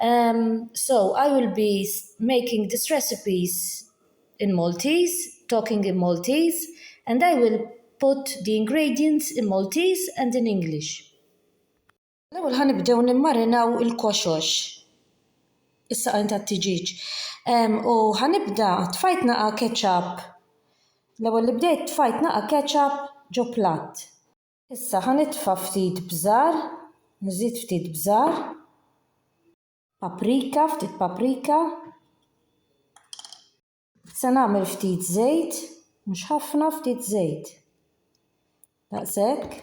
Umm so I will be making this recipes in Maltese, talking in Maltese and I will put the ingredients in Maltese and in English. L-ewwel ħa nibdew nimmarinaw il-koxox, is-saqajn tat-tiġieġ. Umm u ħa nibda, tfajt naqa' ketchup, l-ewwel li bdejt tfajt naqa' ketchup ġo platt. Issa ħa nitfa' ftit bżar, nżid ftit bżar. Paprika, ftit paprika. Se nagħmel ftit żejt, mhux ħafna, ftit żejt. Daqshekk.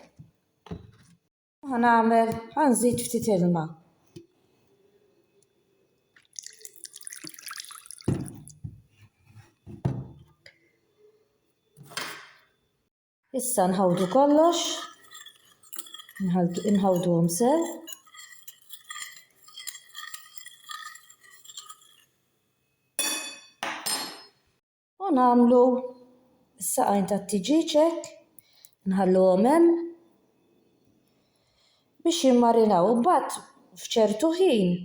Ħa nagħmel, ħa nżid ftit ilma. Issa nħawdu kollox, nħawdu għom sew. U namlu s-saqajn ta' tiġiċek, nħallu għomem biex jimmarinaw. Bat fċertu ħin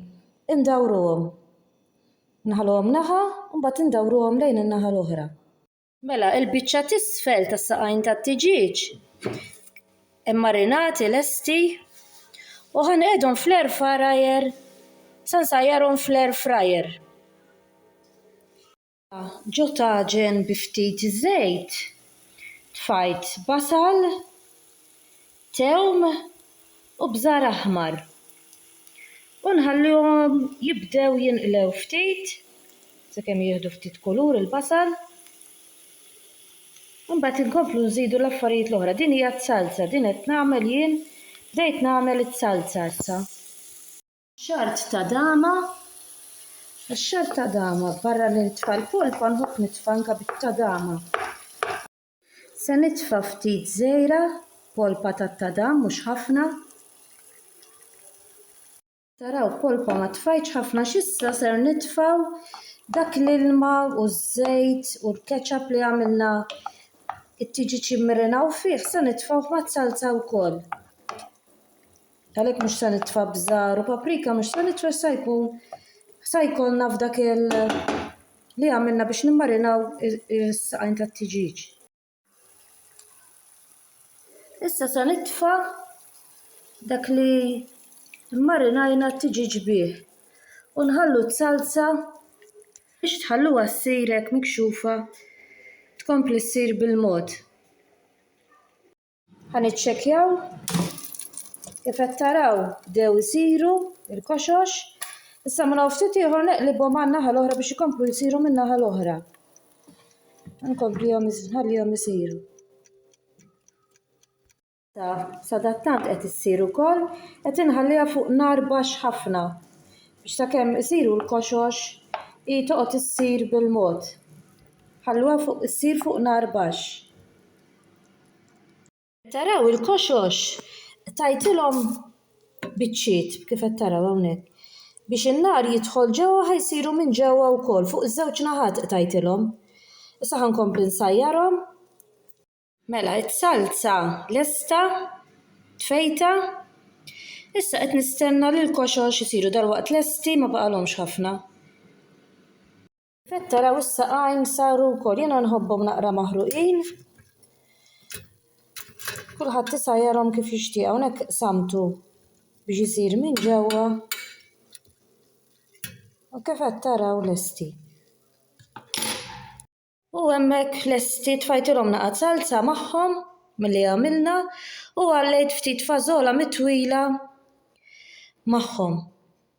indawru għom. Nħallu għom naħa, bat indawru għom lejn il-naħa l-ohra. Mela, il-biċċa t'isfel tas-saqajn tat-tiġieġ immarinati lesti u ħanqedhom fl-air fryer sa nsajjarhom fl-air fryer. Ġo taġen bi ftit żejt tfajt basal, thewm u bżar aħmar u nħalluhom jibdew jinqlew ftit sakemm jieħdu ftit kulur il-basal. Imbagħad inkomplu nżidu l-affarijiet l-oħra. Din hija t-salza, din qed nagħmel jien, bdejt nagħmel it-salza issa. Xart ta' dama, ix-xart ta' dama barra li nitfa' l-polpa nħobb nitfa' anke bit-tadama. Se nitfa' ftit żejra, polpa tat-tadam mhux ħafna. Taraw polpa ma tfajtx ħafna x'issa ser nitfgħu dak l-ilma u ż-żejt u l-ketchup li għamilna it-tiġiċ immirinaw fih se nitfgħuh maż-zalza wkoll. Għalhekk mhux se nitfa' bżar u paprika mhux se nitfa' se jkun se jkollna f'dak il li għamilna biex nimmarinaw is-saqajn tat-tiġiġ. Issa se nitfa' dak li mmarinajna t-tiġiġ bih u nħallu t-salsa biex tħalluha ssir hekk mikxufa tkompli ssir bil-mod. Ħa niċċekkjaw kif qed taraw dew isiru il-koxox. Issa minn ftit ieħor neqlibhom għan-naħa l-oħra biex ikomplu jsiru min-naħa l-oħra. Nkomplihom nħallihom isiru. Sadattant qed issir ukoll qed inħalliha fuq nar baxx ħafna biex sakemm isiru l-koxox hi toqgħod issir bil-mod. Ħalluha fuq issir fuq nar baxx. Taraw il-koxox tajtilhom biċċiet kif qed taraw hawnhekk biex in-nar jidħol ġewwa ħa jsiru minn ġewwa wkoll fuq iż-żewġ naħat qtajtilhom. Issa ħa nkompli nsajjarhom. Mela s-salza lesta tfejta. Issa qed nistenna li l-koxox isiru dalwaqt lesti ma baqalhomx ħafna. Qed taraw issa għajn saru wkoll. Jiena nħobbhom naqra maħruqin. Kulħadd issa jarhom kif jixtieq hawnhekk samtu biex isir minn ġewwa. U kif qed taraw lesti. U hemmhekk lesti tfajtilhom naqgħad salza magħhom milli għamilna u għallejt ftit fażola mitwila magħhom.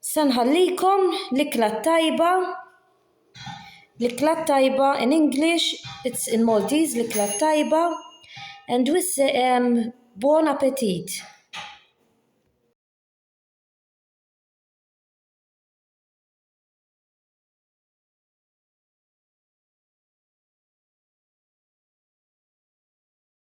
Se nħallikom l-ikla t-tajba, l-ikla t-tajba in English, it's in Maltese, l-ikla t-tajba and we say um buon appetit.